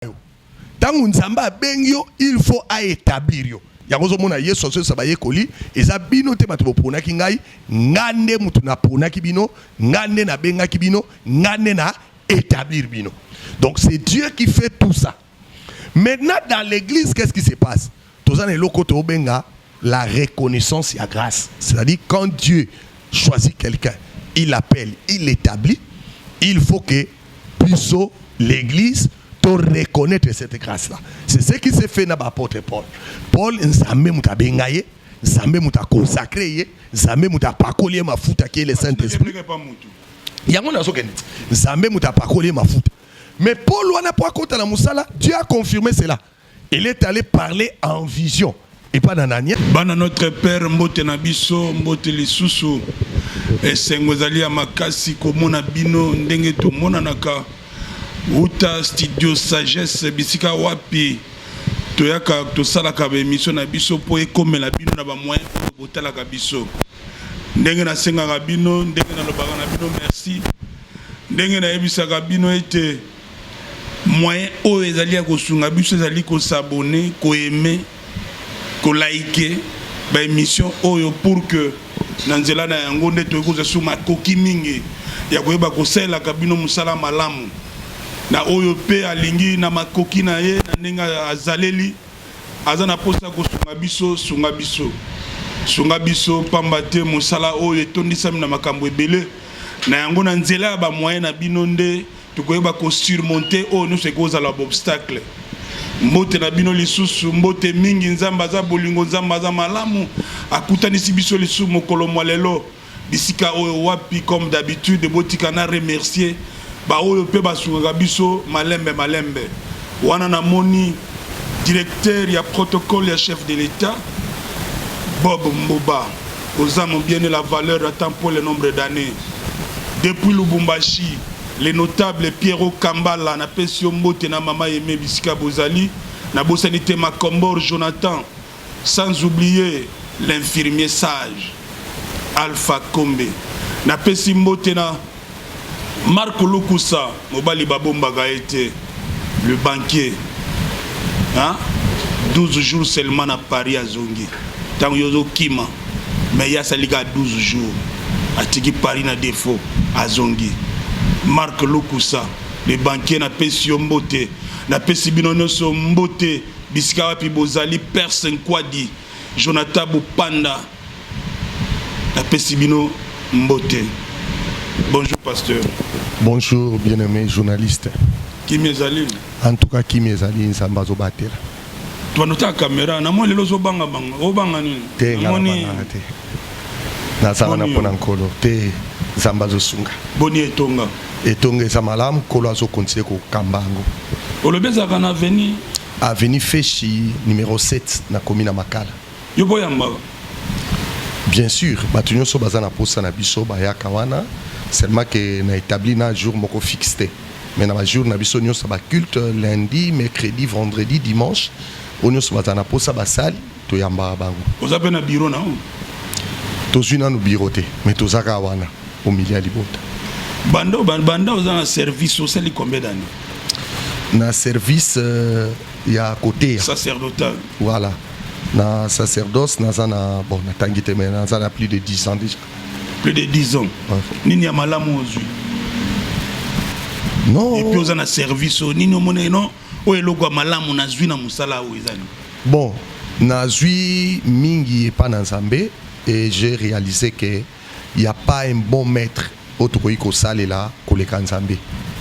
yo ntango nzambe abengi yo il faut aétablir yo yango ozomona yesu azoyesa bayekoli eza bino te bato boponaki ngai ngai nde moto naponaki bino ngai nde nabengaki bino ngai nde na établir bino donc c'est dieu qui fait tout ça maintenant dans l'église qu'est ce qui se passe Toza na eloko to benga la reconnaissance ya grace. C'est-à-dire quand Dieu choisit quelqu'un, il l'appelle, il l'établit, il faut que biso l'église to reconnaître cette grâce là. C'est ce qui s'est fait na ba apôtre Paul. Paul nzambe muta benga ye, nzambe muta consacrer ye, nzambe muta pakoli ye mafuta qui est le Saint-Esprit. Yango nazo kende. Nzambe muta pakoli ye mafuta. Mais Paul wana po akota na musala, Dieu a confirmé cela. Il est allé parler en vision. Et pas d'Anania. Bana notre père mbote na biso mbote lisusu esengo ezali ya makasi komona bino ndenge tomonanaka uta studio sagesse bisika wapi toyaka tosalaka baemission na biso mpo ekomela bino na bamoyen oyo botalaka biso ndenge nasengaka bino ndenge nalobaka na bino merci ndenge nayebisaka bino ete Moyen oyo ezali ya kosunga biso ezali ko s'abonner, ko aimer, ko liker ba emissions oyo pour que na nzela na yango nde tokoki kozwa lisusu makoki mingi ya koyeba kosalelaka bino mosala malamu na oyo mpe alingi na makoki na ye na ndenge azaleli aza na mposa ya kosunga biso sunga biso sunga biso mpamba te mosala oyo etondisami na makambo ebele na yango na nzela ya bamoye na bino nde Tokoyeba ko surmonter oyo nyonso ekozala b'obstacle. Mbote na bino lisusu, mbote mingi. Nzambe aza bolingo, Nzambe aza malamu, akutanisi biso lisusu mokolo mwa lelo bisika oyo. Wapi comme d'habitude, botika na remercier baoyo mpe basungaka biso malembe malembe. Wana namoni. Directeur ya protocole ya chef de l'etat Bob Mbuba oza mobiene la valeur ya temps pour le nombre d'annees depuis Lubumbashi le notable Pierrot Kambala napesi yo mbote na mama Aime bisika bozali nabosani te Makombor Jonathan Sans oublier l'infirmier sage Alpha Kombe. Napesi mbote na Marc Lukusa, mobali babombaka ye te, le banquier. Hein? 12 jours seulement na Paris azongi. Tango yo ozokima, mais ye asali kaka 12 jours. Atiki Paris na defaut, azongi. Marc Lukusa, le banquier, napesi yo mbote. Napesi bino nyonso mbote. Bisika wapi bozali Perse Nkwadi, Jonathan Bupanda napesi bino mbote. Bonjour pasteur. Bonjour bien-aimé journaliste. Kimi ezali. En tout cas kimi ezali Nzambe azobatela. Tobanda otala kamera na moi lelo ozobanga banga obanga nini? Te nga nabangaka te. Nazala na mpo na nkolo te Nzambe azosunga. Boni etonga. Etonga eza malamu nkolo azo continue ko kamba yango. Olobi ezalaka na avenue. Avenue Feshi numero 7 na komi na Makala. Yo boya mbaka. Bien sûr, bato nyonso baza na posa na biso bayaka wana seulement que na établi na jour moko fixe te mais na bajour na biso nyonso baculte lundi mercredi vendredi dimanche oyo nyonso bazala na mposa basali Toyambaka bango. Oza pe na bureau na yo? Tozui nanu bureau te mais toza kaka wana au milieu ya libota. Banda banda oza na service osali combien d'années? Na service euh, ya koteya sacerdotal. Voilà. Na sacerdoce naza na bon natangi te mais naza na plus de 10 ans déjà. Plus de 10 ans. Ouais. Nini ya malamu ozui? Non. Et puis oza na service nini omoneli non? Oyo eloko ya malamu nazwi na mosala oyo eza nini? Bon, nazwi mingi epa na Nzambe et j'ai realisé que il y a pas un bon maître oyo tokoki kosalela koleka Nzambe.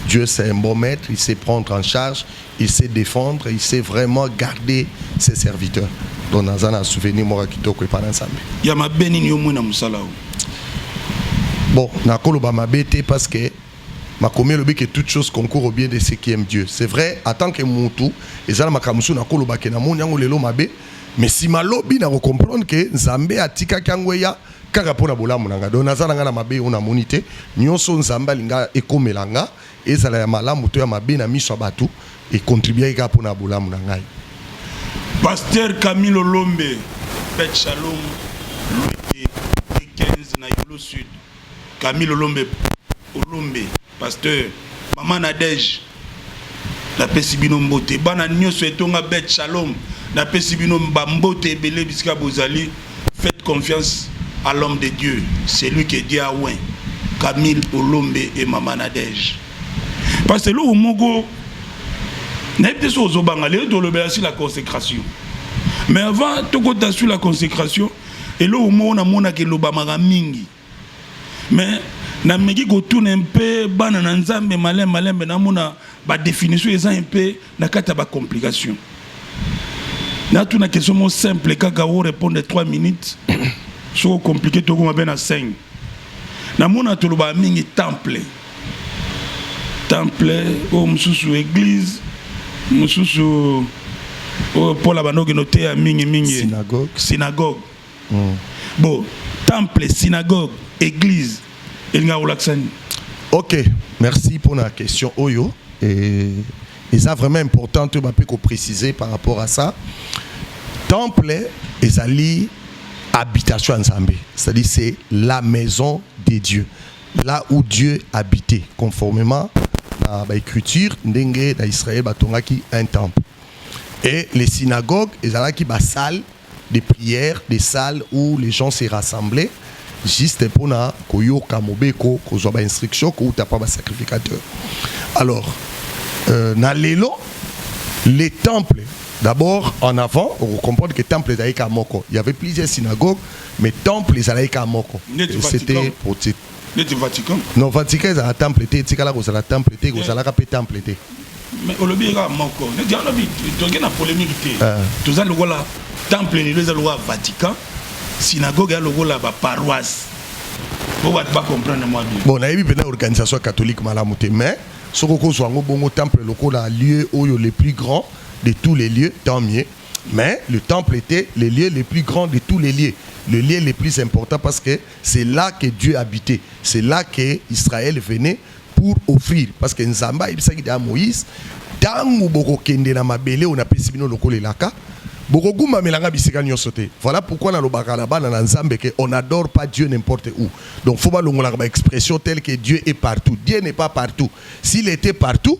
Dieu c'est un bon maître, il sait prendre en charge, il sait défendre, il sait vraiment garder ses serviteurs. Donc naza na souvenir moko ya kitoko epa na Nzambe. Ya mabe nini yo omoni na mosala oyo? Bon, nakoloba mabe te parce que Makomi elobi que toute chose concourt au bien de ceux qui aiment Dieu. C'est vrai, en tant que mutu, eza na makambo mosusu nakoloba ke namoni yango lelo mabe, mais sima lobi nako comprendre ke Nzambe atikaki yango eya kaka mpo na bolamu na nga. Donc naza na nga na mabe oyo namoni te, nionso oyo Nzambe alinga ekomela nga, ezala ya malamu to ya mabe na miso ya batu, e contribuaki kaka mpo na bolamu na ngai. Pasteur Camille Lolombe, Beth Shalom, Lueke, Dickens na Yolo Sud. Camille olombe olombe pasteur mama nadège napesi bino mbote bana nyonso etonga bet shalom napesi bino bambote ebele bisika bozali faites confiance à l'homme de dieu celui que dieu a oint camille olombe et mama nadège parce eloko moko nayebi te soki ozobanga lelo tolobela sur la consécration mais avant tokota sur la consécration eloko moko namonaka elobamaka mingi me nameki kotuna mpe bana na nzambe malembe malembe namona badefinition eza mpe na kati ya bacomplication natuna question mo simple kaka o répondre 3 minutes soko compliqué tokoma mpe na 5 namona tolobaka mingi temple temple oyo mosusu eglise mosusu oyo mpola bandokende oteya mingi mingi synagogue, synagogue. Mm. bo temple synagogue église elingaka kolakisa nini ok merci mpo na question oyo e, eza vraiment important oyo bape koprécise par rapport à ça temple ezali habitation ya nzambe c'est-à-dire c'est la maison de dieu Là où Dieu habitait, conformément à l'écriture, ndenge na Israël batongaki un temple. Et les synagogues, ezalaki ba salles de prière, des salles où les gens se rassemblaient juste pour na koyoka mobeko, kozwa ba instructions, kouta pa ba sacrificateurs. Alors, euh, na lelo, les temples D'abord, en avant, on comprend que le temple d'Aïka Moko, il y avait plusieurs synagogues, Mais temple ezalaki kaka moko. Neti Vatican. C'était pour ti- neti vatican non Vatican ezala temple te, etikala kozala temple te, kozalaka pe temple te. mais olobi ye kaka moko neti yango olobi toke na polémique te Ah. toza lokola temple lelo eza lokola vatican synagogue ya lokola baparoise po bato bacomprendre mwa bien Bon, nayebi pena organisation catholique malamu te, mais soko kozwa yango bongo temple lokola lieu oyo le plus grand de tous les lieux, tant mieux. Mais le temple etait le lieu le plus grand de tous les lieux, le lieu le plus important parce que c'est là que Dieu habitait, c'est là que Israël venait pour offrir parce que Nzambe ayebisaki deja Moïse tangu bokokende na mabele oyo napesi bino lokola elaka bokogumbamela nga bisika nyonso te. Voilà pourquoi nalobaka na bana na Nzambe que on n'adore pas Dieu n'importe où. Donc faut balongolaka ba expression telle que Dieu est partout. Dieu n'est pas partout. S'il était partout,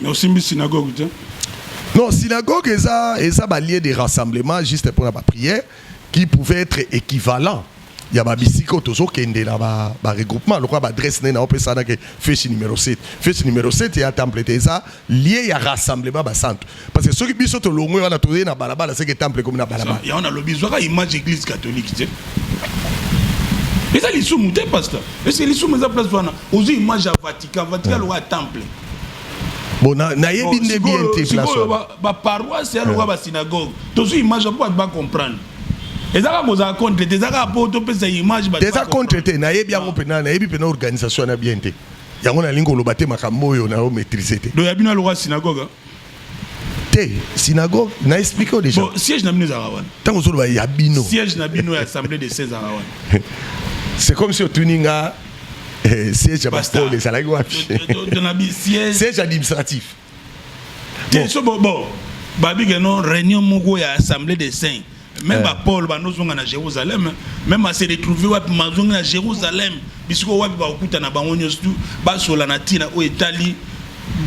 Mais osimbi synagogue te? Non, synagogue eza eza ba lieu de rassemblement juste pour la prière qui pouvait être équivalent ya ba bisika oyo tozokende na ba, ba regroupement lokola ba adresse nene aopesana ke fesi numero 7 fesi numero 7 ya temple te eza lie ya rassemblement basantu parce que soki biso tolongwe wana toye na balabala seke temple ekomi na balabala yango nalobi zwaka image église catholique te eza lisumu te pasteur ese lisumu eza place wana ozwi image ya vatican vatican lokola temple bon nayebi nde bien te place baparoise ya lokola basynagogue tozwi image ya mpo bato bacomprendre eza kaka kozala contre te eza kaka mpo topesa image eza contre te nayebi yango mpena nayebi mpena organisation wana bien te yango nalingi koloba te makambo oyo nayo maîtrise te do ya bino alokola synagogue te synagogue na explique yo déjà bon, siège na bino ezalaka wana ntango ozoloba ya bino siège na bino ya assemblée de 16 ezalaka wana c'est comme si otuni nga eh, siège ya bapole ezalaki wapi siège administratif te so bon babike no réunion moko ya assemblée de 5 Même ba Paul ba nozonga na Jérusalem, même à se retrouver wapi mazongi na Jérusalem, bisiko wapi ba okuta na bango nyoso tout ba sola na tina o etali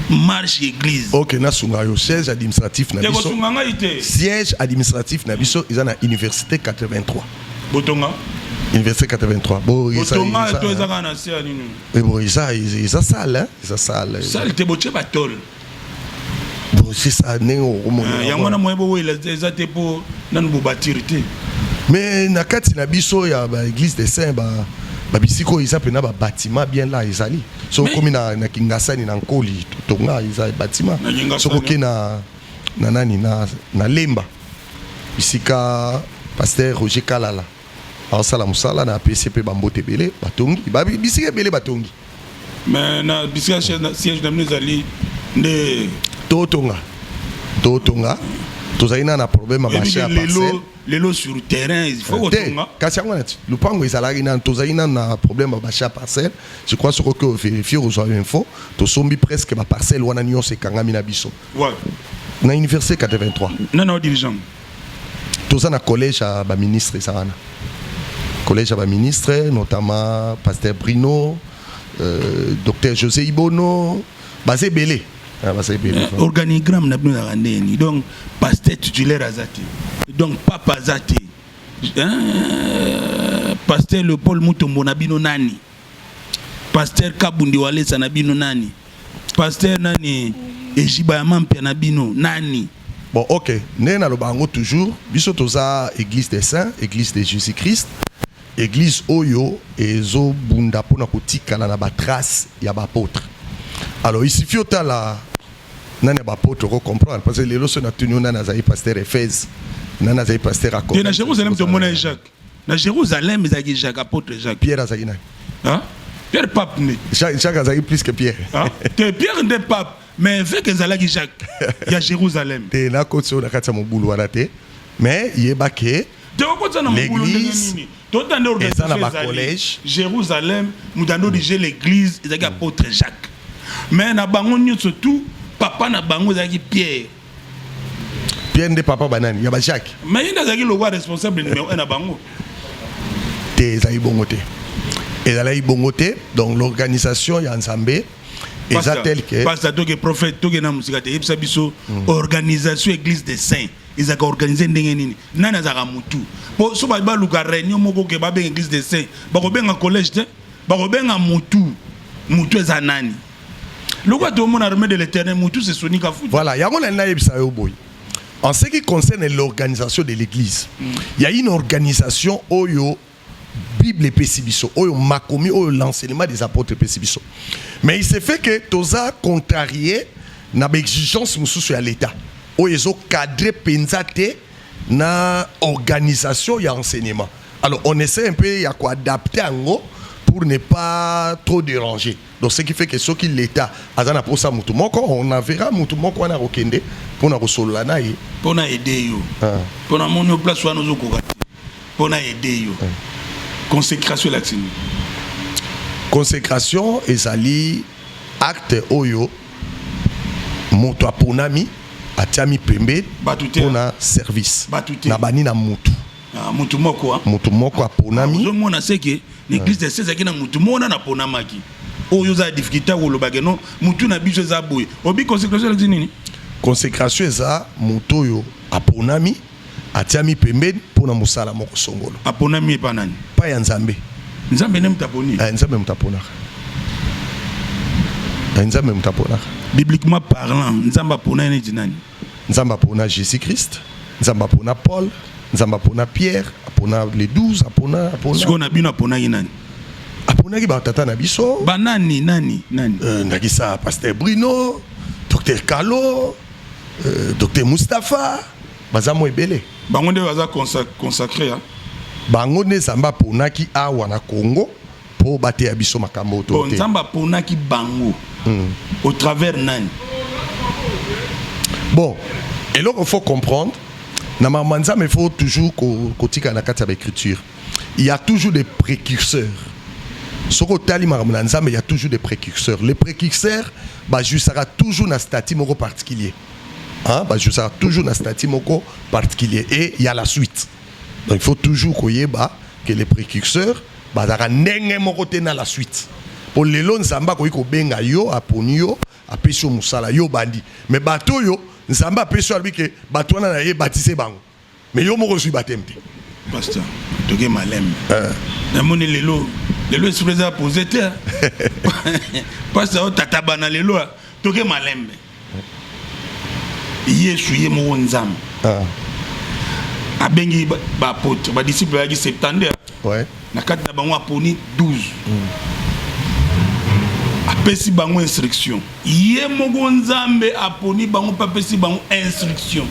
marche église. OK, na sunga yo siège administratif na biso. sunga ngai te. Siège administratif na biso eza na université 83. Botonga Université 83. Bon, ils sont là. Ils sont là, ils sont là. Ils sont là. Ils sont là. donc c'est ça ndenge okomona yango wana moyen bowela eza te mpo nanu bobatire te mais na kati na biso ya ba église des saints ba babisika oyo eza mpena babatima bien la ezali soki okomi na, na kingasani na nkoli totonga eza batima soki oke na, na nani na, na lemba bisika paster roger kalala aosala mosala na apesi mpe bambote ebele batongi bisika ebele batongi mais na bisika siège na bino ezali nde totonga totonga tozali na na problème ya marché ya parcelle lelo sur terrain il faut kotonga eh, kasi yango nati lupango ezalaki nanu tozali nanu na problème ya bacha parcelle je crois soko ke ovérifie ozwa info tosombi presque baparcelle wana nyonso ekangami na biso na université 83 nana dirigeant toza na collège ya ba ministre eza wana collège ya ba ministre notamment pasteur Bruno euh, docteur José Ibono baza ebele ah, baza ebele euh, organigramme na bino ezalaka ndenge nini donc pasteur titulaire aza te donc papa aza te euh, pasteur Leopold Mutombo na bino nani Pasteur Kabundi Walesa na bino nani? Pasteur nani? Ejiba ya mampia na bino nani? Bon, ok. Ndenge naloba yango toujours, biso toza Église des Saints, Église de Jésus-Christ. Église oyo ezo bunda pona kotikala na ba traces ya ba apôtres. Alors, il suffit otala nani ya ba apôtres ko comprendre parce que lelo so na tuni nani azali pasteur Ephèse, nani azali pasteur Akon. Tena Jérusalem tomona Jacques. Na Jérusalem ezalaki Jacques apôtre Jacques. Pierre azalaki nani? Hein? Pierre pape nde. Jacques, Jacques azalaki plus que Pierre. Hein? Te Pierre nde pape mais évêque ezalaki Jacques ya Jérusalem. Te na kotso na kati ya mobulu wana te mais yeba ke te okotsa na mobulu ndenge nini tota nde organisation ezali Jérusalem mutando dije l'église ezalaki apôtre Jacques mais na bango nyonso tout papa na bango ezalaki Pierre Pierre nde papa banani ya ba Jacques. Mais il azaki lokola responsable numéro 1 na bango. Te ezali bongo te. Ezali bongo te. Donc l'organisation ya Nzambe eza tel que Pasteur toke prophète toke na musika te yebisa biso hmm. organisation église des saints ezalaka organise ndenge nini nani azalaka mutu po so baluka réunion moko ke babenga église des saints bakobenga collège te bakobenga mutu mutu eza nani lokola tomona armée de l'éternel mutu se soni kafuta voilà yango na nayebisa yo boye en ce qui concerne l'organisation de l'église mm. il y a une organisation oyo bible epesi biso oyo makomi oyo l'enseignement des apôtres epesi biso mais il se fait que toza contrarié na baexigence mosusu ya l'état oyo ezocadre mpenza te na organisation ya enseignement alors on essaie un peu ya koadapte yango pour ne pas trop déranger donc ce qui fait que soki l'état aza na posa motu moko on avera motu moko wana akokende mpo na kosolola na ye mpo na aide yo mpo na moni place wana ozokoka te mpo na aide yo consécration elakisi nini consécration ezali Acte oyo moto aponami atiami pembeni Bato te. mpo na service Bato te. na bani na motu Ah, motu moko ah. moto moko aponami ozomona seke na eglise de sezaki na motu mona naponamaki oyo oza difficulté ya kolobake no motu na biso eza boye obi consécration elakisi nini consécration eza moto oyo aponami Atiami pembeni mpo na mosala moko songolo. Aponami epai ya nani? Epai ya Nzambe. Nzambe nde moto aponi? Eh, Nzambe moto aponaka. Eh, Nzambe moto aponaka. Bibliquement parlant, Nzambe apona neti nani? Nzambe apona Jésus Christ, Nzambe apona Paul, Nzambe apona Pierre, apona les 12, apona apona. Siko na bino aponaki nani? Aponaki ba tata na biso. Ba nani nani nani? Euh, ndakisa Pasteur Bruno, Docteur Kalo, euh, Docteur Mustapha. baza mwa ebele bango nde baza consacre ya bango nde nzambe aponaki awa na congo mpo bateya biso makambo to oh, te nzambe aponaki bango hmm. au travers nani bon eloko faut comprendre na mama nzambe faut toujours kotika na kati ya baécriture il y a toujours des précurseurs soki otali makambo na nzambe il y a toujours des précurseurs les précurseurs bajusaka toujours na statut moko particulier Hein, bah, je serai toujours dans statut moko particulier et il y a la suite. Donc il faut toujours koyeba que les précurseurs bazaka ndenge moko te na la suite. Pour les lois nzambe akoki kobenga yo aponi yo apesi yo mosala yo bandi mais bato oyo nzambe apesi yo alobi ke bato wana na ye batise bango Mais yo moko ozui baptême te. Pasteur, toke malembe. Euh. Namoni lelo lelo esprit eza poser te. Pasteur tata bana lelo toke malembe. Yesu ye moko Nzambe. Ah. abengi baapôtre badisciple ayaki 72 ouais. na kati na bango aponi 12 apesi bango instruction ye moko nzambe aponi bango mpe apesi bango instruction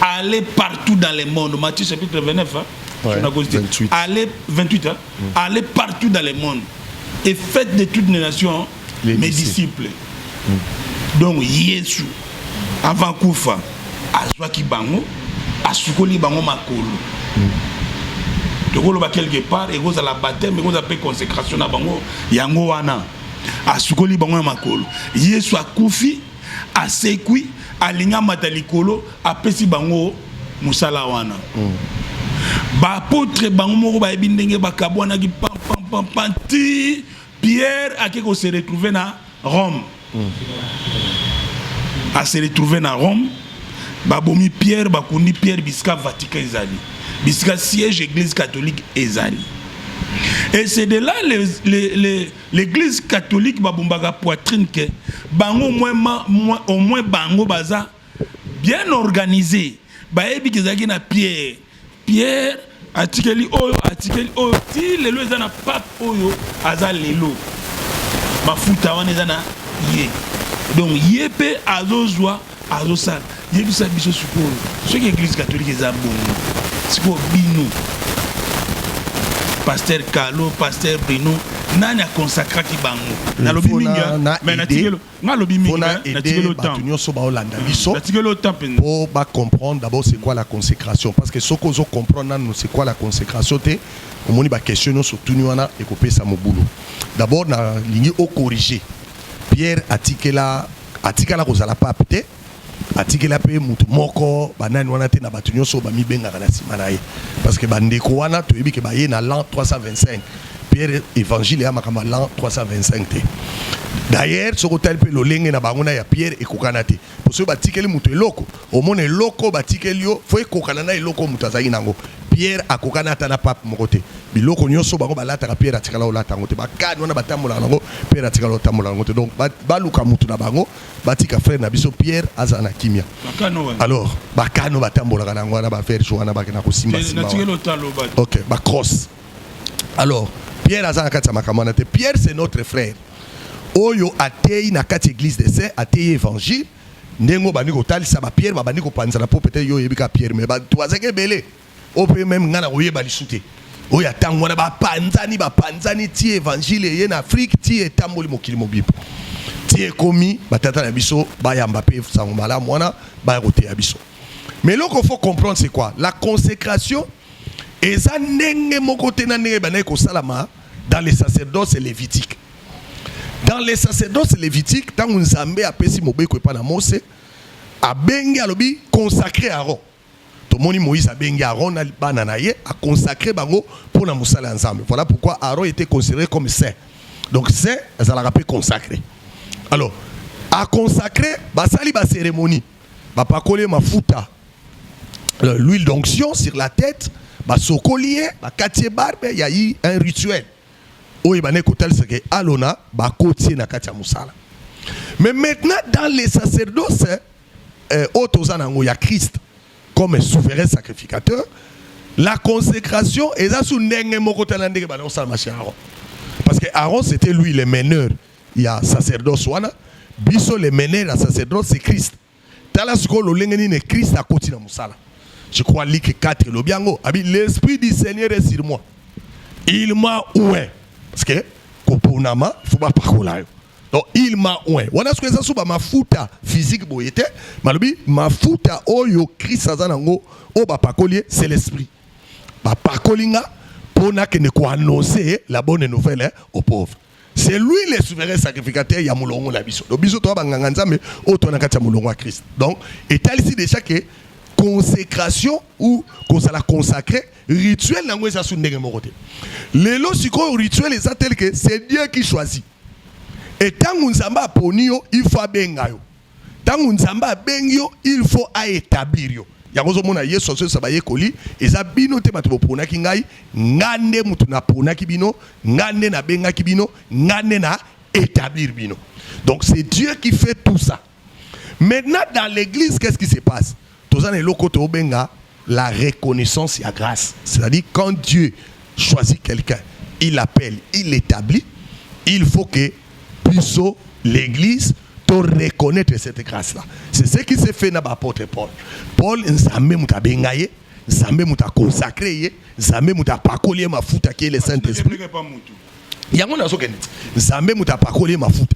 aller partout dans le monde matthieu chapitre 29 hein? Ouais, 28. Allez, 28 hein? Mm. Allez partout dans le monde et faites de toutes les nations mes disciples donc yesu avant kufa azwaki bango asukoli bango makolo tokoloba quelque part ekozala bateme ekozala mpe consécration na bango yango wana asukoli bango ya makolo yesu akufi asekwi alingi amata likolo apesi bango mosala wana mm. baapotre bango moko bayebi ndenge bakabwanaki pampampampa ti Pierre ake ko se retrouver na Rome. A se retrouver na Rome. Babomi Pierre, bakundi Pierre bisika Vatican ezali. Bisika siège Église catholique ezali. Et c'est de là l'église catholique babombaka poitrine que bango au moins, au moins bango baza bien organisé. Bayebi kezaki na Pierre Pierre atikeli oyo atikeli oyo ti lelo eza na pape oyo aza lelo mafuta wana eza na ye donc ye mpe azozwa azosala yebisa biso sikoyo soki eglise katolike eza bongo sikoyo bino paster kalo paster brino nani akonsakraki bango nalobi mingi me natikelo nga lobi mingi pona aider batu nyoso ba olanda mm. biso po ba comprendre d'abord c'est quoi la consécration parce que soki ozo comprendre nanu c'est quoi la consécration te omoni ba question nyoso tuni wana ekopesa mobulu d'abord na lingi o corriger Pierre atikela atikala kozala pape te atikela mpe motu moko banani wana te na bato nyonso bamibengaka na nsima na ye parce que bandeko wana toyebi ke baye na lan 325 pierre évangile ya makambo ya lan 325 te d'ailleurs soki otali mpe lolenge na bango na ya pierre ekokana te mpo soki batikeli moto eloko omona eloko batikeli yo fo ekokana na eloko moto azalaki na yango pierre akokana ata na pape moko te biloko nyonso bango balataka pierre atikala olata yango te bakani wana batambolaka nango pierre atikala otambola yango te donc baluka motu na bango batika frère na biso Pierre azala na kimia. Alors ba kano batambolaka na yango wana ba verge wana bakenda kosimba simba. Ok ba cross. Alors Pierre aza na kati ya makambo wana te. Pierre c'est notre frère oyo ateyi na kati église des saints ateyi évangile ndenge oyo bandi kotalisa bapierre babandi kopanzana mpo pete yo oyebi kaka pierre me bato bazaki ebele Oyo pe meme nga nakoyeba lisu te. Oyo ya tango wana ba panzani ba panzani ti evangile eye na Afrique ti etamboli mokili mobimba. Ti ekomi ba tata na biso bayamba pe sango malamu wana baya koteya biso. Mais eloko faut comprendre c'est quoi? La consecration eza ndenge moko te na ndenge ebandaki kosalama dans les sacerdoces levitiques. Dans les sacerdoces levitiques tango Nzambe apesi mobeko epa na Mose abengi alobi consacrer Aaron. Tomoni Moïse abengi Aaron na bana na ye, a consacrer bango pona mosala ya Nzambe. Voilà pourquoi Aaron etait considere comme saint. Donc saint azalaka pe consacre. Alors, a consacrer basali ba ceremonie, ba pakoli ye mafuta, euh, l'huile d'onction sur la tete, ba sokoli ye, ba kati ye barbe, il y a eu un rituel. Oyo ebane kotalisa ke alona ba kotie na kati ya mosala. Mais maintenant dans les sacerdoces, eh, oyo toza nango ya Christ comme souverain sacrificateur la consécration eza su ndenge moko tala ndenge bana kosala masi ya Aaron parce que Aaron c'était lui le meneur ya sacerdoce wana biso le meneur ya sacerdoce c'est Christ tala sikoyo lolenge nini Christ akoti na mosala je crois liki 4 elobi yango abi l'esprit du Seigneur est sur moi il m'a oint parce que koponama faut bapakola yo donc il m'a oint wana soki eza so bamafuta physique boye te malobi mafuta oyo krist aza nango oyo bapakoli ye c'est l'esprit bapakoli nga mpo nakende koannonce la bonne nouvelle au pauvre c'est lui le souverain sacrificateur ya molongo na biso donc biso toya banganga nzambe oyo toya na kati ya molongo ya krist donc etalisi déjà ke consécration ou kozala consacré rituel nango eza su ndenge moko te lelo sikoyo rituel eza tel que c'est dieu qui choisit Et tango Nzambe aponi yo, il faut abenga yo. Tango Nzambe abengi yo, il faut a établir yo. Yango ozomona Yesu azoyebisa bayekoli, eza bino te bato boponaki ngai, ngai nde moto naponaki bino, ngai nde nabengaki bino, ngai nde na établir bino. Donc c'est Dieu qui fait tout ça. Maintenant dans l'église qu'est-ce qui se passe? Toza na eloko to benga la reconnaissance ya grâce. C'est-à-dire quand Dieu choisit quelqu'un, il appelle, il établit, il faut que biso l'église to reconnaître cette grâce là. C'est ce qui s'est fait na ba apôtre Paul. Paul nzambe muta benga ye, nzambe muta consacrer ye, nzambe muta pakoli ye mafuta qui est le Saint-Esprit. Yango nazokende. Nzambe muta pakoli ye mafuta.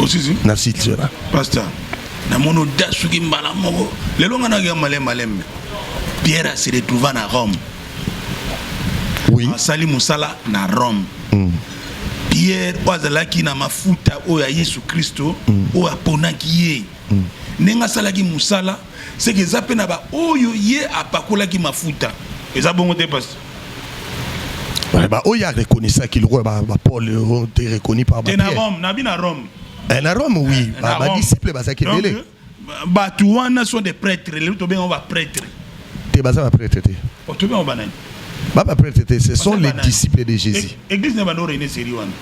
osisi na sitira pasta namoni oda soki mbala moko lelo nga nayoka malem maleme pierre ase retrouva na rome oui. asali mosala na rome mm. pierre oyo azalaki na mafuta oyo ya yesu kristo mm. oyo aponaki ye mm. ndenge asalaki mosala seke eza mpe na baoyo ye apakolaki mafuta eza bongo te pasi baoyo arekonisaki lokola bapole oh, te rekoni par te na rome nabi na rome eh, na rome oui eh, badisciple bazalaki ebele bato wana sont des prêtres lelo tobengango baprêtre te baza baprêtre te oh, tobengango banani babaprêtre te ce sont les disciples de jésus e-, église na bando rene seri wana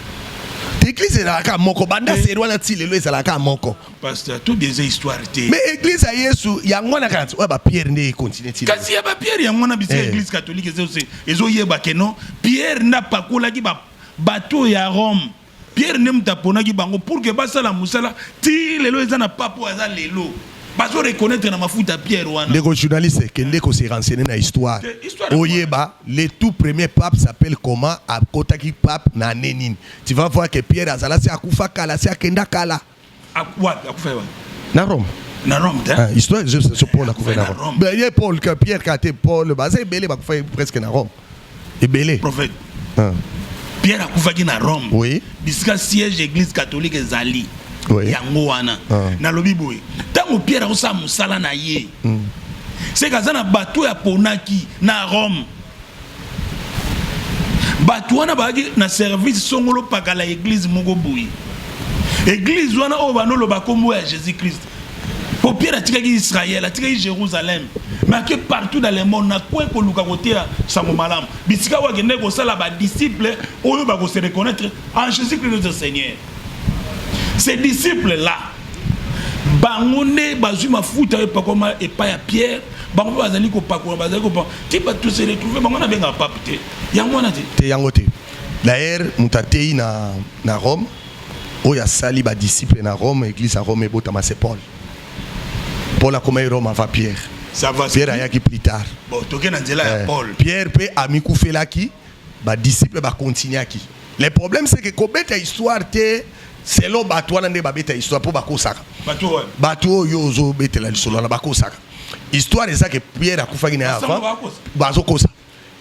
église ezalaka moko banda seri wana ti lelo ezalaka moko Pasteur, tout des histoires te. Mais église ya Yesu yango na kanisa oyo ba Pierre nde continue ti. Kasi ya ba Pierre yango na bisa Eh. église catholique ezo se ezo yeba ke non Pierre nda pakolaki ba bateau ya Rome. Pierre nde moto aponaki bango pour que basala mosala ti lelo eza na pape oyo aza lelo. Bazo reconnaître na mafuta Pierre wana. Ndeko journaliste, kende ko se renseigner na histoire. Te- histoire ya Oyeba, le tout premier pape s'appelle comment, akotaki pape na année nini. Tu vas voir que Pierre azala si akufa kala, si akenda kala. Wapi akufa ye wapi? Na Rome. Na Rome te. Ah, histoire je sais Paul akufa na Rome. Ben ye Paul que Pierre Kate Paul baza ebele bakufa presque na Rome. Ebele. Prophète. Ah. Pierre akufaki na Rome. Oui. Bisika siège église catholique ezali. Oui. Yango wana. Ah. Nalobi boye. Tango Pierre akosala musala na ye. Mm. C'est kaza na bateau ya ponaki na Rome. bato wana bazalaki na service songolo pakala eglize moko boye eglize wana oyo banoloba nkombo ya jésus christ mpo pierre atikaki israel atikaki jérusalem make partout dans le monde na kwe koluka koteya sango malamu bisika oyo akendaki kosala badisciple oyo bakose reconnaître en jésus christ notre seigneur Ces disciples là bango nde bazwi mafuta oyo epakoma epai ya pierre bango mpe bazali kopakola bazali kopakola ti bato se retrouve bango wana abengaka pape te yango wana te te yango te d'ailleurs moto ateyi na, na rome oyo asali badisciple na rome église ya rome ebotama se paul paul akomaki rome avant pierre pierre ayaki plus tard bon, toke na nzela ya eh, paul pierre mpe amikufelaki badisciple bakontinuaki Le problème c'est que kobeta histoire te selon bato wana nde babeta histoire mpo bakosaka bato oyo ozobetela lisolo wana bakosaka histoire eza ke pierre akufaki na ye avant bazokosa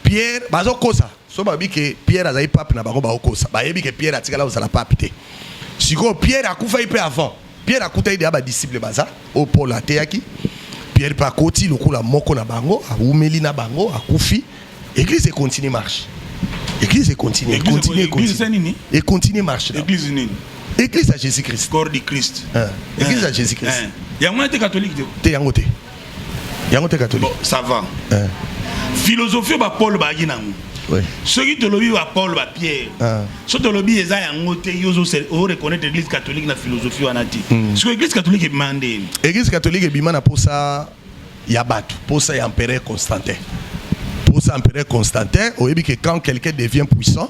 pierre bazokosa so bayebi ke pierre azali pape na bango bakokosa bayebi ke pierre atikala kozala pape te sikoyo pierre akufaki mpe avant Pierre akutaki deja ba disciples baza oyo Paul ateyaki. Pierre mpe akoti lokola moko na bango, awumeli na bango, akufi. Eglise e continue marche. Eglise e continue, e continue, e continue. E continue marche. Eglise nini? Eglise ya Jésus-Christ. Corps du Christ. Eglise ya Jésus-Christ. Yango wana te catholique te. Te yango te. yango te catholique bon, ça va eh. philosophie oyo bapaulo bayaki nango oui. soki tolobi bapaulo bapierre ah. soki tolobi eza yango te yo oreconnaitre église catholique na philosophie wana te mm. siko église catholique ebima nde église catholique ebima na posa ya bato posa ya empereur constantin posa empereur constantin oyebi ke quand quelqu'un devient puissant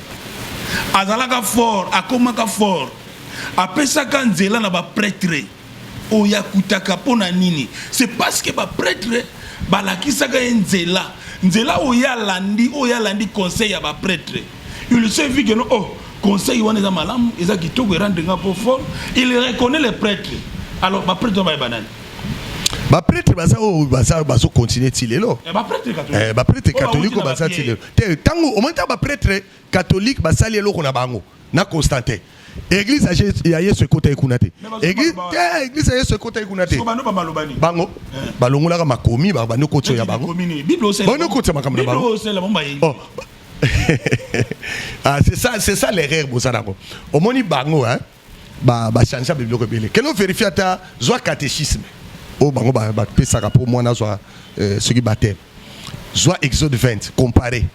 azalaka fort akomaka fort apesaka nzela na bapretre oyo akutaka mpo na nini se parce que bapretre balakisaka ye nzela nzela oyo alandi oyo alandi conseil ya bapretre il se vit que no oh conseil wana eza malamu eza kitoko erendre nga mpo fort il reconnaît les prêtres alors bapretre wana bayeba nani bapretre baza oyo baza bazokontinue ti lelo bapretre catholique oyo baza ti lelo te tango omoni ta ba pretre catholique basali eloko na bango na Constantin eglise ya yesu ekotaki kuna te eglise ya yesu ekotaki kuna te bango eh. balongolaka makomi babandi okotio ya bango boni okotisa makambo na bango oh. ah, c'est ça l'erreur boza nango omoni bango hein ba ba changea ba biloko ebele kende overifie ata zwa catéchisme oyo bango bapesaka mpo mwana azwa euh, soki bateme zwa exode 20 compare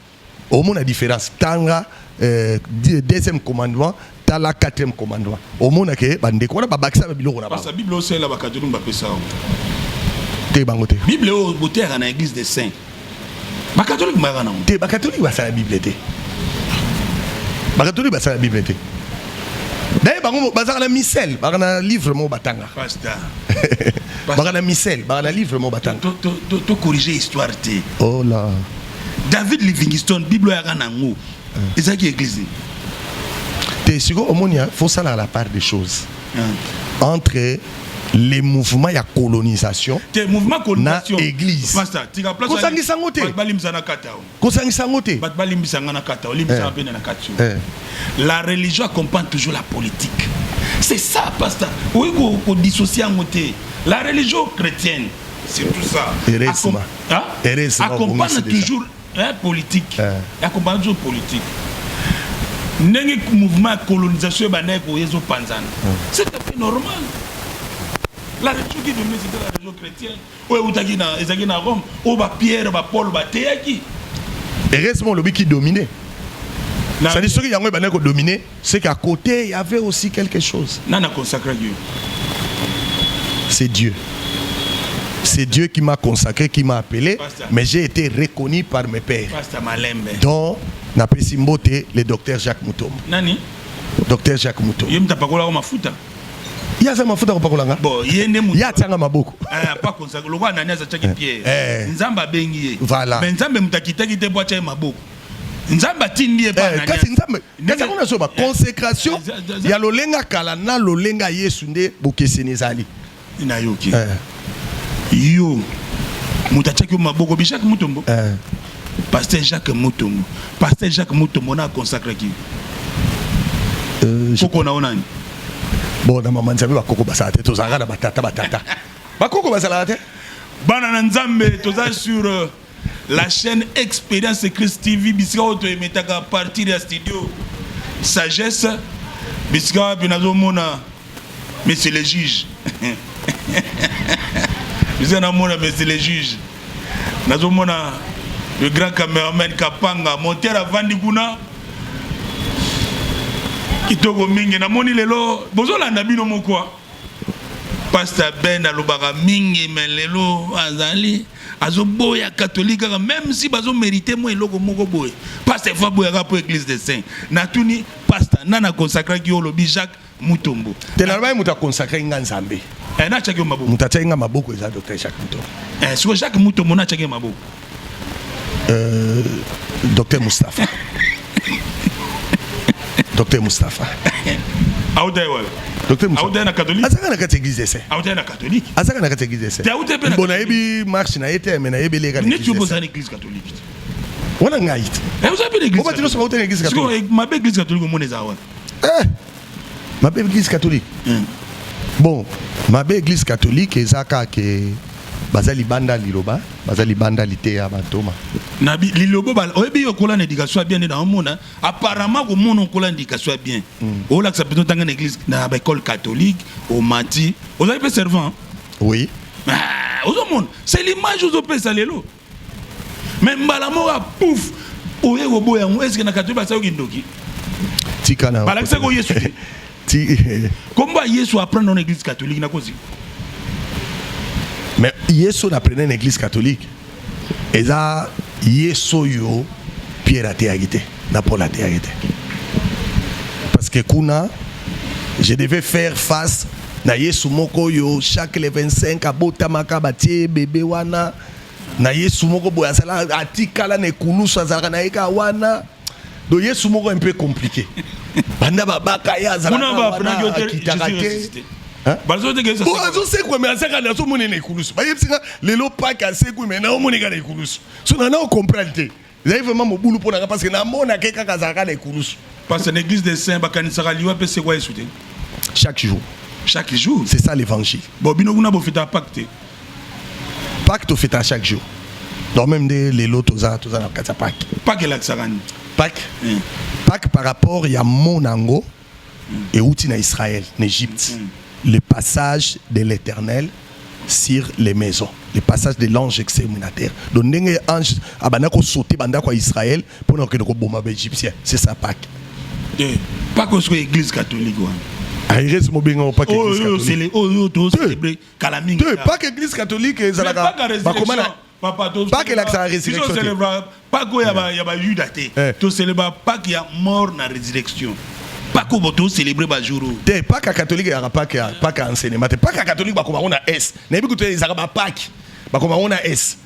omona différence tanga euh, deuxième commandement tala quatrième commandement omona ke bandeko wana babakisa ba biloko na bango bible osalela bakatolike bapesa yango te bango te bible oyo boteyaka na église des saints bakatolike mayaka nango te bakatolike basala bible te bakatolike basala bible te daye bango bazalaka na misele baka na livre moko batanga baka na misele baka na livre moko batanga tocorrige histoire te ola oh david livingston bible oyaka nango eh. ezalaki eglise te sikoyo omoni fo salaka la part des choses entre les mouvements ya colonisation te mouvement colonisation na église pasta tika place kosangisa ngo te balimbisa na kata kosangisa ngo te bat balimbisa nga na kata olimbisa pe eh. na kata eh. la religion accompagne toujours la politique c'est ça pasta oui ko ko dissocier yango te la religion chrétienne c'est tout ça heureusement hein? heureusement accompagne toujours Eh politique. Eh. Ako banda toujours politique. Ndenge mouvement ya colonisation ebandaki koya ezo panzana. Hmm. C'est tout à fait normal. La religion qui dominait c'était la religion chrétienne. Oyo eutaki na ezaki na Rome, oyo ba Pierre, ba Paul bateyaki. Heureusement lobi qui dominait. C'est-à-dire ceux qui yango ebandaki ko dominer. C'est qu'à côté, il y avait aussi quelque chose. Nana consacré Dieu. C'est Dieu. C'est Dieu qui m'a consacré, qui m'a appelé, Pasteur. mais j'ai été reconnu par mes pères, Pasteur Malembe. dont Napesi Mbote, le docteur Jacques Moutombo. Nani? Docteur Jacques Moutombo. Ye mtapakola ko mafuta. Ye aza mafuta kopakola nga? Bon, ye nde moto. Ye atianga maboko. Eh, pas consacré. Lokola Ananias atiaki Pierre. Eh. Nzambe abengi ye. Voilà. Mais Nzambe moto akitaki te mpo atya ye maboko. nzambe atindi ye eh, kasi nzambe kasi yango nazoba eh, consécration eh, ya lolenga kala na lolenga yesu nde bokeseni ezali nayoki yo moto atiaki yo maboko bi jacques mutombo pasteur jacques mutombo pasteur jacques mutombo na aconsakraki euh, koko na yo nani bon na mama nzambe bakoko basala te tozalaka na batata batata bakoko bazalaka te bana na nzambe toza sur euh, La chaîne Experience Christ TV bisika oyo toyemetaka partir ya studio sagesse bisika wapi nazomona monsieur le juge bisika namona monsieur le juge nazomona le grand cameraman kapanga monter avandi kuna kitoko mingi namoni lelo bozolanda bino moko Pasta Ben alobaka mingi mais lelo azali azoboya catholique kaka même si bazo mériter moi eloko moko boye pasta efa boyaka mpo église des saints natuni pasta nana consacraki yo olobi Jacques Mutombo te nalobaki moto akonsacre nga nzambe eh, nachaki yo maboko moto atiaki nga maboko eza docteur Jacques Mutombo eh, siko Jacques Mutombo nachaki ye maboko Euh, Docteur Moustapha. Docteur Moustapha. Aoudaï, ouais. Docteur Moustapha. Aoudaï, na catholique. Azaka na kati église ese. Aoudaï, na catholique. Azaka na kati église ese. Aoudaï, pe na. Bon, na yebi marche na yete, mais na yebi le kati. Ne tu bozana l'église catholique. Wana ngai. Eh, vous avez l'église. Obatino soka utene église catholique. Siko, ma église catholique, mon ezawala. Eh. mabe eglise catholique mm. bon mabe eglise catholique eza kaka ke baza libanda liloba baza libanda liteya bantoma na lilobo oyebi yo okola na éducation ya bien nde naomona apparemment komona okola na éducation ya bien mm. olakisa mpenza otanga na église na baekole catholique omati ozali mpe servant oui ah, ozomona c'est l'image ozopesa lelo mais mbala moko pouf oye koboya yango eske na katoyeba asali kindoki tika na balakisaki oyo yesu te kombo ya yesu aprendre na église catholique nakozi mais yesu na aprendre na église catholique eza yesu oyo pierre ateyaki te na paul ateyaki te parce que kuna je devais faire face na yesu moko oyo chaque le 25 abotamaka batie bebe wana na yesu moko boye azala atikala na ekulusu azalaka na ye kaka wana do yesu moko mpe compliqué banda babaka ye azalakaakitaka te azosekwa me azaka na azomona na ekulusu bayebisi nga lelo pake asekwi me naomoneka na ekulusu so nana okomprane te Ezali vraiment mobulu mpo na nga parce que namonaka ye kaka azalaka na ekulusu. Parce que na eglise des saints bakanisaka liwa mpe sekwa Yesu te. Chaque jour. Chaque jour. C'est ça l'évangile. Bon bino kuna bofeta Pâques te. Pâques tofeta chaque jour. Donc même nde lelo toza toza na kati ya Pâques. Pâques elakisaka nini? Pâques. Mm. Pâques par rapport ya mona yango euti na Israël na Egypte mm. le passage de l'Éternel sur les maisons le passage de l'ange exterminateur donc ndenge ange abanda ko sauter banda ko Israël pour na ko boma ba égyptien c'est ça Pâques eh, pas que soit église catholique wana ah, erese mobenga opaka oh, oh, oh, église catholique kala mingi te paka église catholique ezalaka bakoma na Papa, to Pâques elakisaka biso resurrection te. celebraka Pâques oyo ya ba- ya bayuda te Eh. tocelebra Pâques ya mort na résurrection Pâques oyo bo tocelebre bajour oyo te paka ya katolike eyaka paka ya paka ya enseignement te paka ya katolike bakoma yango na s nayebi kutu ezalaka bapaki bakoma yango na s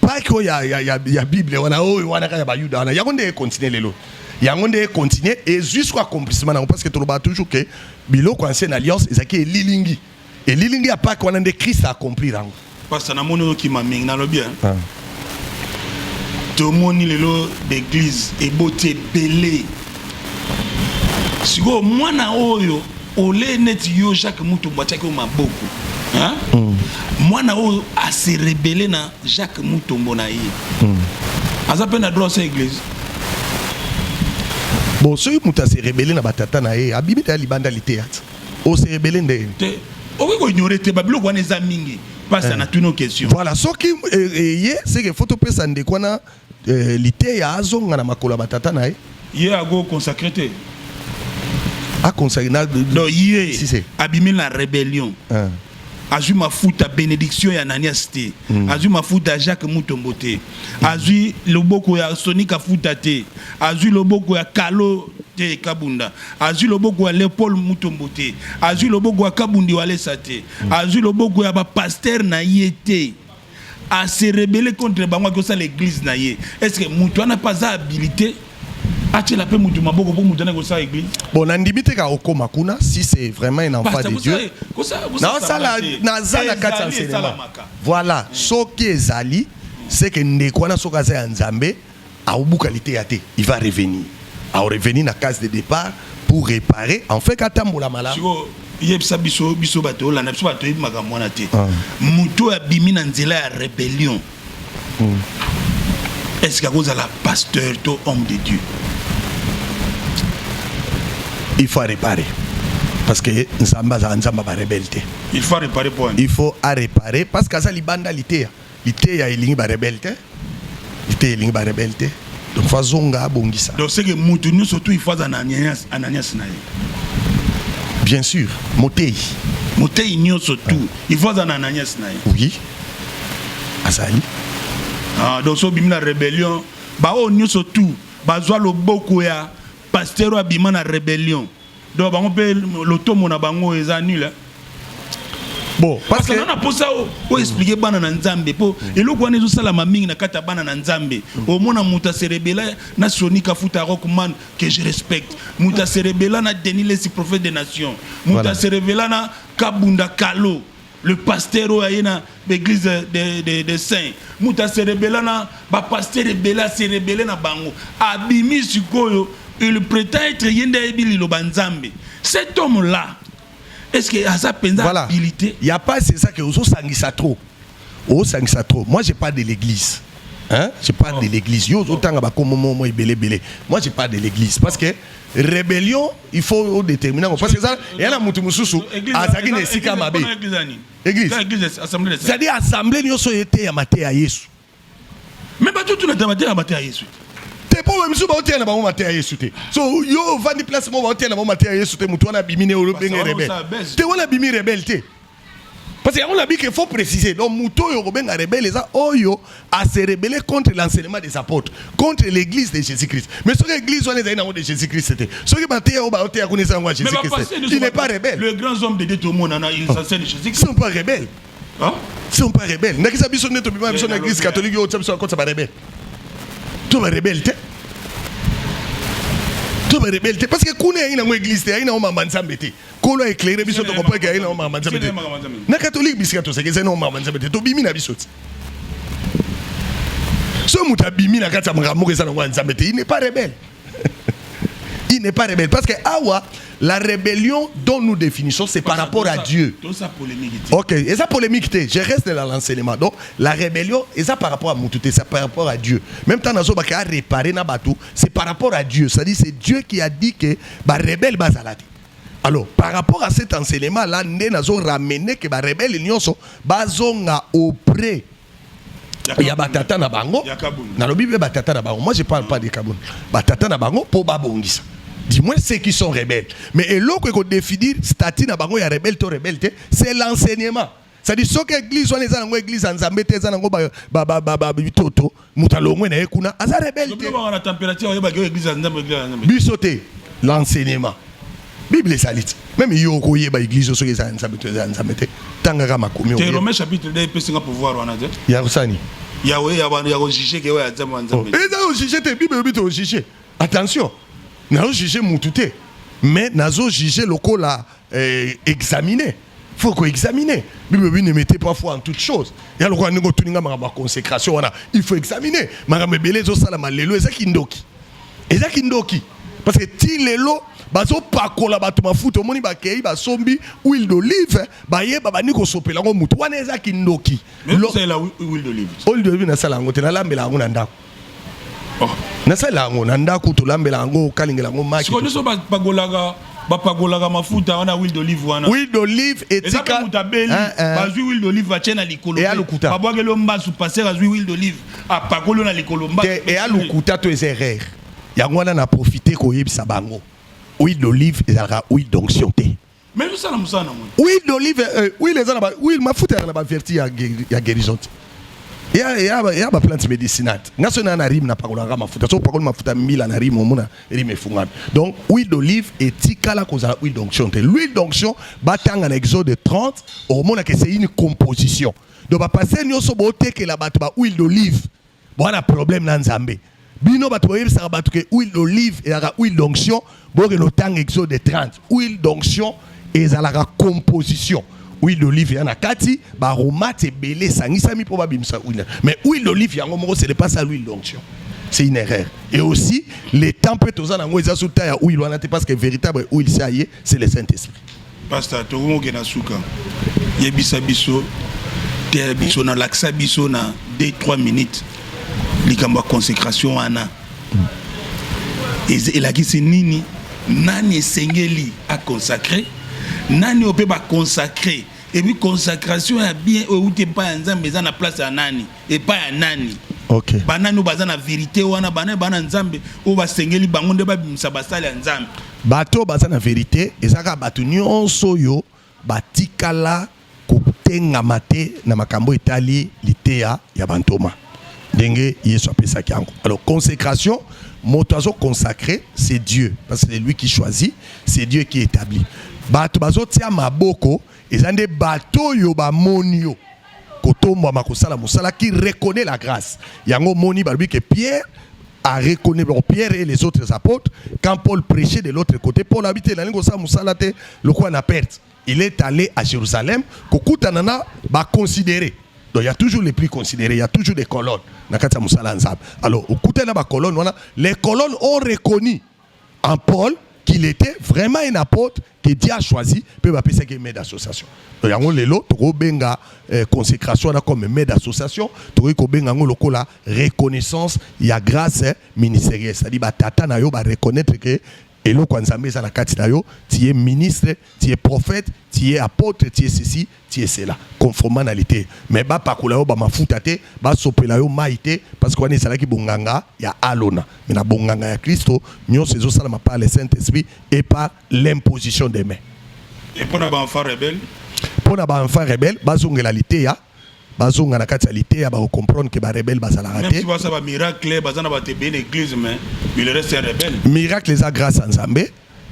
paki oyo ya, ya, ya, ya bible wana oyo wana kaka ya bayuda wana yango nde ekontinue lelo yango nde ekontinue ezwi siko accomplissement na yango parce que tolobaka toujours ke biloko ancienne alliance ezalaki elilingi Elilingi ya Pake wana nde Christ a accomplir yango. Pasta na moni okima mingi na lobi hein. Ah. Tomoni lelo d'église eboti ebele. Siko mwana oyo ole neti yo Jacques Mutombo atiaki maboko. Hein? Mm. Mwana oyo a se rebeller na Jacques Mutombo na ye. Mm. Aza pe na droit sa église. Bon, soki moto a se rebeller na batata na ye, abimi ta libanda liteya. ose ebele nde te okoki ko ignorer te ba biloko wana eza mingi pasi eh. na tuno question voilà soki eye eh, eh, ye seke faut topesa ndeko wana eh, liteya azonga na makolo ya batata na ye ye ago consacre te aconsacre na donc ye abimi na rébellion eh. azwi mafuta benediction ya nanias te mm. azwi mafuta ya jacques mutombo te mm. azwi loboko ya soni kafuta te azwi loboko ya kalo te kabunda azwi loboko ya leopold mutombo te azwi loboko ya kabundi walesa te mm. azwi loboko ya bapaster na ye te a se rebeller contre bango akosala l'église na ye est ce que mutu wana mpe aza habilité atyela mpe mutu maboko mpo mutu wana ekosala église bon nandimi te ka okoma kuna si c'est vraiment un enfant de dieu naosala naza na kati ya enseignement voilà soki ezali seke ndeko wana soki aza ya nzambe Akobuka liteya te, il va revenir. Ako revenir na case de depart pour reparer en fait atambola malamu. Sikoyo yebisa biso biso bato yolanda biso bato yebi makambo wana te. Ah. Moto oyo abimi na nzela ya rebellion. Mm. Est-ce que akozala pasteur to homme de Dieu? Il faut réparer. parce que nzambe azala nzambe ya barebele te il faut areparer point il faut areparer parce que aza libanda liteya Liteya elingi ba rebelle te. Liteya elingi ba rebelle te. Donc faut azonga abongisa. Donc c'est que mutu nyonso tout il faut azala na Ananias, Ananias na ye. Bien sûr, moteyi. Moteyi nyonso tout il faut azala na Ananias na ye. Oui. Azali. Ah, donc so bimi na rébellion, ba oyo nyonso tout bazwa loboko ya pasteur oyo abima na rébellion. Donc bango pe lotomo na bango eza nul hein. Bon, parce que na posa o oh, expliquer bana na Nzambe po mm. eloko wana ezo sala ma mingi na kata bana na Nzambe. Mm. O mona muta serebela na Sony Kafuta Rockman que je respecte. Muta serebela na Denis Lessi prophète des nations. Muta serebela na Kabunda Kalo. Le pasteur oyo aye na l'église de, de, de saint moto aserebela na bapasteur ebele aserebele na bango abimi sikoyo il prétend être ye nde ayebi liloba nzambe cet homme là est ce que aza mpenza voilà. habilité ya pasi eza ke ozosangisa trop osangisa trop moi j'ai pas de l'église Hein? Je parle oh. de l'église. Yo, autant à Moi, j'ai pas de l'église. Parce que rébellion, il faut o déterminer yango parce que eza eya na moto mosusu azalaki na esika mabe église c'est-à-dire assemblée nyonso eteya mateya ya yesu me bato tunata mateya mateya ya yesu te mpo baye mosusu baoteya na bango mateya ya yesu te so yo ovandi place moko baoteya na bango mateya ya yesu te moto wana abimi ne olobenge rebele te wana abimi rebele te Parce que yango na bike faut préciser. Donc moto oyo kobenga rebelle eza oyo a se rebeller contre l'enseignement des apôtres, contre l'église de Jésus-Christ. Mais soki église wana ezali nango de Jésus-Christ te. Soki ba teya oyo ba teya kuna eza yango ya Jésus-Christ. Il n'est pas rebelle. Le grand homme de Dieu tout le monde en a ils enseignent de Jésus-Christ. Ils sont pas rebelles. Hein? Ils sont pas rebelles. Ndakisa biso nde tobima biso na église catholique oyo biso akotsa ba rebelle. To ba rebelle te. To ba rebelle te parce que kuna yango église te, yango mamba nzambe te. kolo eclaire biso tokopweke aye na omaka manzambe te na katolike bisika toseki ezali na omaka manzambe te tobimi na biso ti soki moto abimi na kati ya makambo moko eza nango ya nzambe te il n'est pas rebelle il n'est pas rebelle parce que awa la rébellion dont nous définissons c'est par rapport à Dieu ok eza polémique te je reste dans l'enseignement donc la rébellion eza par rapport à mutu te c'est par rapport à Dieu même temps nazobaka réparer na bato c'est par rapport à Dieu c'est-à-dire c'est Dieu qui a dit que barébelle bazala te Alors, par rapport à cet enseignement-là, nde nazo ramener que ba rebelles nyonso bazonga auprès il y a batata na bango. Nalobi be batata na bango. Moi je parle pas de Kabund. Batata na bango po babongisa. Du moins ceux qui sont rebelles. Mais eloko eko définir statut na bango ya rebelle to rebelle te, c'est l'enseignement. C'est dit soki église wana eza nango église ya Nzambe te eza nango ba ba ba ba ba bitoto moto alongwe na ye kuna aza rebelle te. Bana température oyeba ke église ya Nzambe église ya Nzambe. Biso te l'enseignement. Bible ezali ti. Même yo okoyeba église soki eza ya Nzambe te eza ya Nzambe te. Tangaka makomi. Te Romain chapitre 2 epesi nga pouvoir wana te. Ya kosani. Ya oye ya bana ya ko juger ke oya Nzambe Nzambe. Oh, eza ko juger te Bible bito juger. Attention. Na juger mutu te. Mais nazo juger lokola eh, examine faut ko examiner bible bi ne mettez pas foi en toute chose ya lokola ndenge otuni nga makambo ya consécration wana il faut examiner makambo ebele ezosalama lelo eza kindoki eza kindoki parce que ti lelo bazopakola bato mafuta omoni bakei basombi huile d'olive baye babandi kosopela yango motu wana eza kindoki huile d'olive nasala yango te nalambela yango na ndako Oh. nasalela yango na ndako tolambela yango okalingela yango maki sikoyo nyonso bagolaka bapagolaka mafuta wana huile d'olive wana huile d'olive etika moto abeli eh, eh. bazwi huile d'olive batye na likolo eya lokuta babwakeli yo mbasu paster azwi huile d'olive apakoli yo na likolo mbasu eya lokuta to eza erreur yango wana na profite koyebisa bango huile d'olive ezalaka huile d'onction te Mais nous sommes musana mwe. Huile d'olive, euh, huile eza na ba huile mafuta ya na ba vertu ya ya guérison. Ya ya ba ya ba plantes médicinales. Nga so na na rime na pakola nga mafuta. So pakola mafuta mila na rime omona rime efungami. Donc huile d'olive etikala kozala huile d'onction te. L'huile d'onction batanga na Exode 30 omona que c'est une composition. Donc ba passer nyoso botekela bato ba huile d'olive. Bwana problème na Nzambe. Bino bato boyebisaka bato ke huile d'olive ezalaka huile d'onction, bokende otanga exode 30. Huile d'onction ezalaka composition. Huile d'olive ya na kati, ba aromates ebele esangisami mpo babimisa huile. Mais huile d'olive yango moko c'est le pas ça l'huile d'onction. C'est une erreur. Et aussi, les temps peut aux anango, ils ont sous taille à huile, parce que véritable huile, ça y est, c'est le saint esprit pasta tokomi okenda suka yebisa biso te biso na lakisa biso na 2 3 minutes likambo ya consécration wana elakisi nini nani esengeli aconsacre nani oyo mpe baconsacre epuis consacration ya bien oyo euti epai ya nzambe eza na place ya nani epai ya nani okay. banani oyo baza na verite wana bana bana nzambe oyo basengeli bango nde babimisa basali ya nzambe bato baza na verite ezalaka bato nyonso oyo batikala kotengama te na makambo etali liteya ya bantoma ndenge yesu apesaki yango alors consécration moto azo consacré c'est dieu parce que c'est lui qui choisit c'est dieu qui établit bato bazotia maboko eza nde bato oyo bamoni yo kotombwama kosala mosala qui reconnaît la grâce yango moni balobi que Pierre a reconnu donc Pierre et les autres apôtres quand Paul prêchait de l'autre côté Paul habite na lingo sa musala te lokola na perte il est allé à Jérusalem kokutana na ba considérer donc il y a toujours les plus considérés il y a toujours des colonnes na kati ya musala nzambe alors okutana na ba colonnes wana les colonnes ont reconnu en Paul qu'il était vraiment un apôtre que Dieu a choisi mpe bapesaki ye maire d'association to yango lelo tokobenga eh, consécration wana comme maire d'association tokoki kobenga yango lokola reconnaissance ya grâce eh, ministérielle c'est-à-dire batata na yo bareconnaitre ke eloko ya nzambe eza na kati na yo tiye ministre tiye prophète tiye apôtre tiye ceci Tiesela conformanalite mais ba pakola yo ba mafuta te, ba sopela yo mayi te parce que wana ezalaki bonganga ya Alona mais na bonganga ya Klisto nionso ezo salama par le Saint Esprit et par l'imposition des mains. Et pour na ba enfants rebelles? Pour na ba enfants rebelles bazongela liteya bazonga na kati ya liteya ba comprendre que ba rebelles bazalaka te. Ba miracle baza na ba te bien église mais il reste un rebelle. Miracle eza grâce à Nzambe.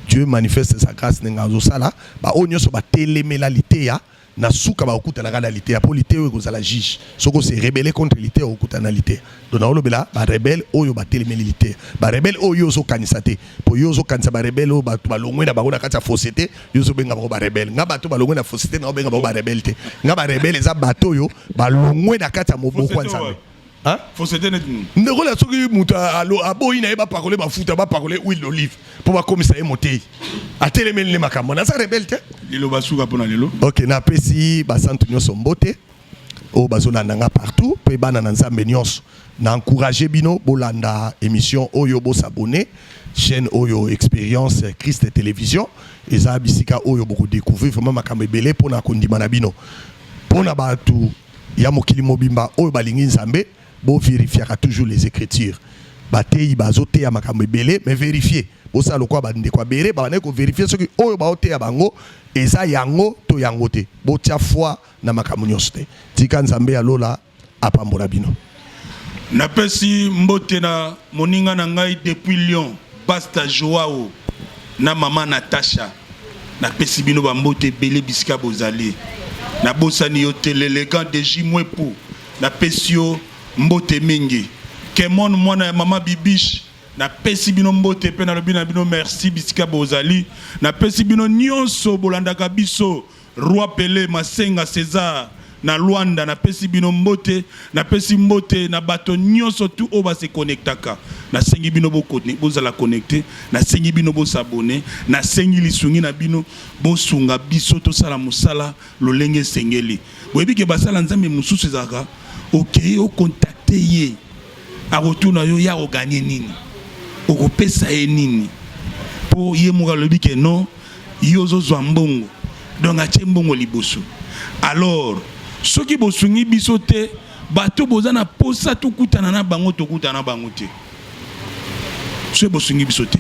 Dieu manifeste sa grace ndenge azosala ba oyo nyonso batelemela liteya na suka bakokutanaka na liteya mpo liteya oyo ekozala juge soki ose rebele contre liteya okokutana na liteya donc naolobela barebele oyo batelemeli liteya barebele oyo yo ozokanisa te mpo yo ozokanisa barebele oyo bato balongwe na bango na kati ya fosse te yo ozobenga bango barebele nga bato balongwe na fosse te naobenga bango barebele te nga barebele eza bato oyo balongwe na kati ya moboko ya nzambe Hein? Fausseté neti nini? Ndeko la soki moto alo aboyi na ye ba pakole ba futa ba pakole huile d'olive pour ba komisa ye moteyi. Atelemeli ne makambo. Na sa rebelle te. Lelo ba suka pona lelo. OK, na pesi ba santu nyoso mbote. Oyo bazolanda nga partout pe bana na Nzambe nyoso. Na encourager bino bolanda émission oyo bo s'abonner chaîne oyo expérience Christ télévision eza bisika oyo boko découvrir vraiment makambo ebele pona kondima na bino. Pona batu ya mokili mobimba oyo balingi nzambe bo verifiaka toujours les ecritures bateyi bazoteya makambo ebele mais verifie bosala lokola bandeko ya bere babandaki koverifie soki oyo baoteya bango eza yango to yango te botya foi na makambo nyonso te tika nzambe ya lola apambola bino Napesi mbote na moninga na ngai depuis Lyon, Pasta Joao na mama Natasha. Napesi bino ba mbote ebele bisika bozali. Nabosani yo te l'elegant de J Mwepu. Napesi yo mbote mingi. Kemon mwana ya mama Bibiche. Napesi bino mbote mpe nalobi na bino merci bisika bozali. Napesi bino nyonso bolandaka biso Roi Pele Masenga Cesar na Luanda na pesi bino mbote na pesi mbote na bato nyoso tu oyo base connectaka na sengi bino bozala connecte na sengi bino bosabone na sengi lisungi na bino bosunga biso tosala mosala lolenge esengeli boyebi ke basala nzambe mosusu ezalaka okei okontakte ye akotuna yo ya oganye nini okopesa ye nini mpo ye moko alobi ke non yo ozozwa mbongo donc atie mbongo liboso alors soki bosungi biso te bato boza na posa tokutana na bango tokutana na bango te soki bosungi biso te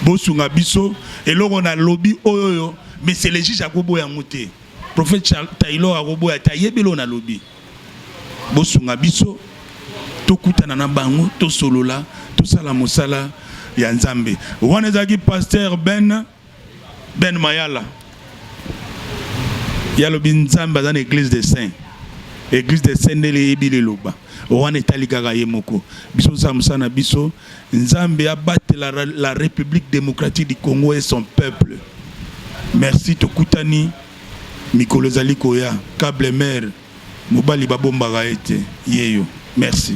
bosunga biso eloko na lobi oyoyo mais c'est le juge akoboya yango te Prophète Taylor akoboya te ayebi eloko nalobi. Bosunga biso tokutana na bango tosolola tosala mosala ya Nzambe. Wana ezalaki pasteur Ben Ben Mayala yalobi Nzambe aza na église des saints église des saints nde eyebi liloba wana etali kaka ye moko biso osala mosala na biso Nzambe abatela la Republique democratique du Congo et son peuple. Merci tokutani mikolo ezali koya. Cable mère mobali babombaka ete yeyo. Merci.